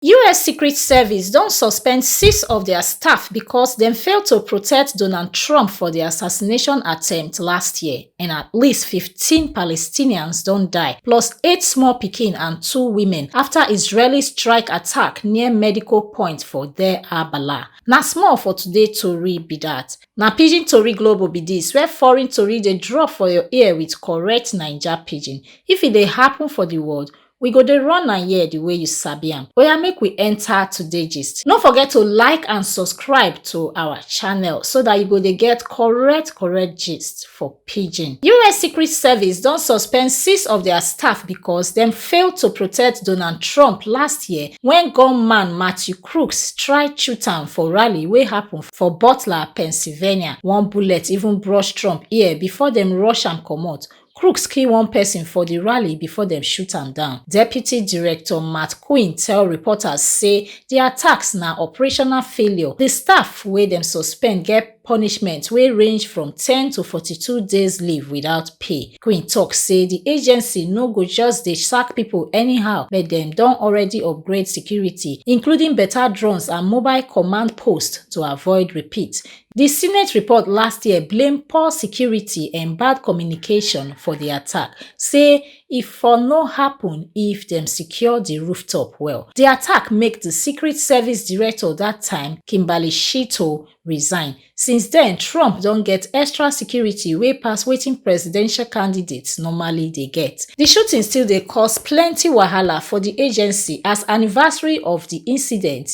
us secret service don suspend six of dia staff becos dem fail to protect donald trump for di assassination attempt last year and at least 15 palestinians don die plus eight small pikin and two women afta israeli strike attack near medical point for deir al-balah na small for today tori be dat na pidgin tori global be dis where foreign tori dey drop for your ear with correct naija pidgin if e dey happun for di world We go dey run am here the way you sabi am. Oya make we enter today gist. No forget to like and subscribe to our channel so that you go dey get correct correct gist for pidgin. US Secret Service don suspend six of their staff because dem fail to protect Donald Trump last year when gunman Matthew Crooks try shoot am for rally wey happen for Butler, Pennsylvania. One bullet even brush Trump ear before dem rush am comot Crooks kill one person for di rally before dem shoot am down. Deputy Director Matt Quinn tell reporters say di attacks na operational failure. Di staff wey dem suspend get punishment wey range from ten to forty-two days leave without pay. Quinn tok say di agency no go just dey sack pipo anyhow but dem don already upgrade security, including beta drones and mobile command posts to avoid repeat. di senate report last year blame poor security and bad communication for di attack say e for no happun if dem secure di rooftop well di attack make di secret service director dat time kimberly shitto resign since den trump don get extra security wey pass wetin presidential candidates normally dey get di shooting still dey cause plenti wahala for di agency as anniversary of di incident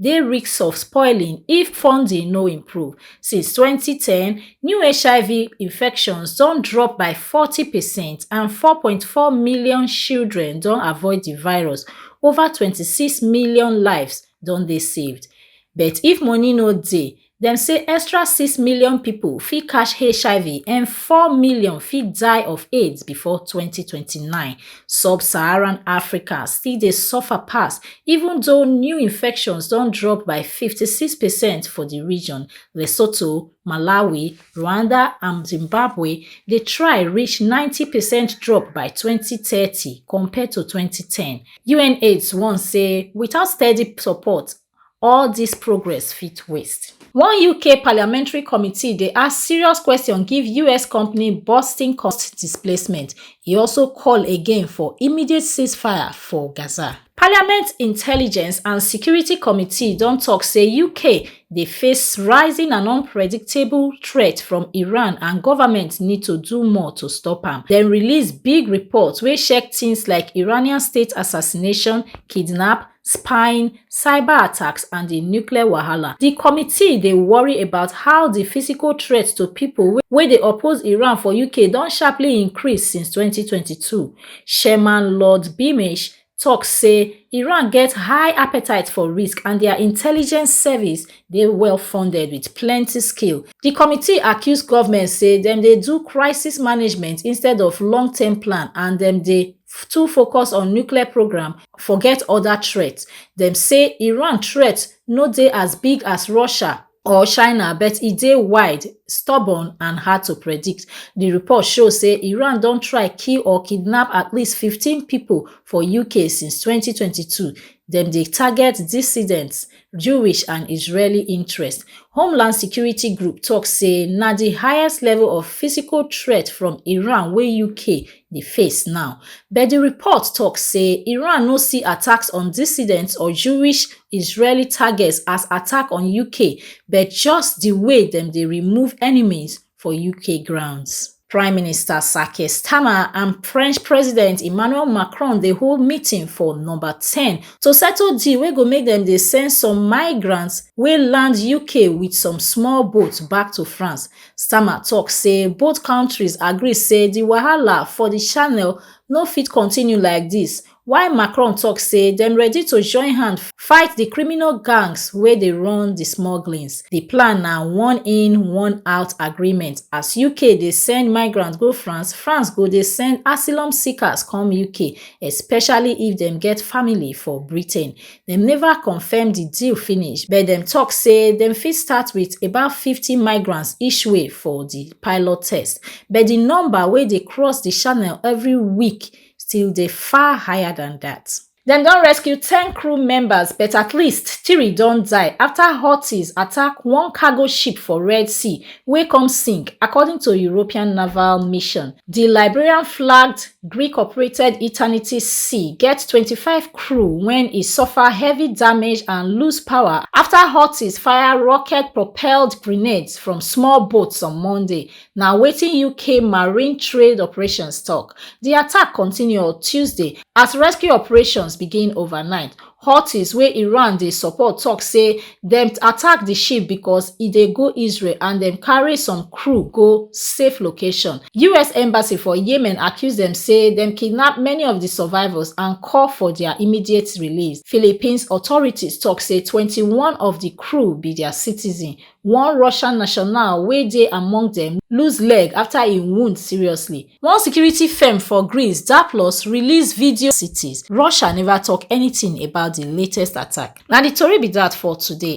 dey risk of spoiling if funding no improve since twenty ten new hiv infections don drop by forty per cent and four point four million children don avoid di virus ova twenty six million lives don dey saved but if money no dey dem say extra six million pipo fit catch hiv and four million fit die of aids before 2029 subsaharan africa still dey suffer pass even though new infections don drop by 56 percent for di region lesotho malawi rwanda and zimbabwe dey try reach 90 percent drop by 2030 compared to 2010 unaids warn say without steady support all dis progress fit waste. One UK parliamentary committee dey ask serious question give US company Boston cost displacement. E also call again for immediate ceasefire for Gaza. Parliament Intelligence and Security Committee don talk say UK dey face rising and unpredictable threat from Iran and government need to do more to stop am. Dem release big report wey check things like Iranian state assassination, kidnap, spying, cyber attacks and di nuclear wahala. Di committee dey worry about how di physical threat to pipo wey dey oppose Iran for UK don sharply increase since twenty twenty two. Chairman Lord Beamish tok say Iran get high appetite for risk and dia intelligence service dey well funded wit plenty skill. Di committee accuse govment say dem dey do crisis management instead of long term plan and dem dey. too focus on nuclear programme forget oda threats dem say iran threat no dey as big as russia or china but e dey wide stubborn and hard to predict di report show say iran don try kill or kidnap at least 15 pipo for uk since 2022 dem dey target dissidents jewish and israeli interests homeland security group tok say na di highest level of physical threat from iran wey uk dey face now but di report tok say iran no see attacks on dissidents or jewish israeli targets as attack on uk but just di way dem dey remove enemies for UK grounds. Prime Minister Sake Starmer and French President Emmanuel Macron dey hold meeting for number 10 to settle deal wey go make dem dey send some migrants wey land UK with some small boats back to France. Starmer talk say both countries agree say the wahala for the channel no fit continue like this while macron tok say dem ready to join hand fight di criminal gangs wey dey run di smugglings di plan na oneinwon iinout agreement as uk dey send migrants go france france go dey send asylum seekers come uk especially if dem get family for britain dem neva confam di deal finish but dem tok say dem fit start wit about fifty migrants each way for di pilot test but di number wey dey cross di channel evri week still dey far higher than dat. Dem don rescue ten crew members but at least three don die after Houthis attack one cargo ship for Red Sea wey come sink, according to European naval mission. Di Liberian-flagged Greek-operated Eternity Sea get twenty-five crew wen e suffer heavy damage and lose power after Houthis fire rocket-propelled grenades from small boats on Monday, na wetin uk marine trade operations tok di attack continue on tuesday as rescue operations begin overnight houthis wey iran dey support tok say dem attack di ship becos e dey go israel and dem carry some crew go safe location us embassy for yemen accuse dem say dem kidnap many of di survivors and call for dia immediate release philippines authorities tok say twenty-one of di crew be dia citizens one russian national wey dey among dem lose leg afta e wound seriously one security firm for greece zapplos release video cities russia neva tok anytin about di latest attack na di tori be dat for today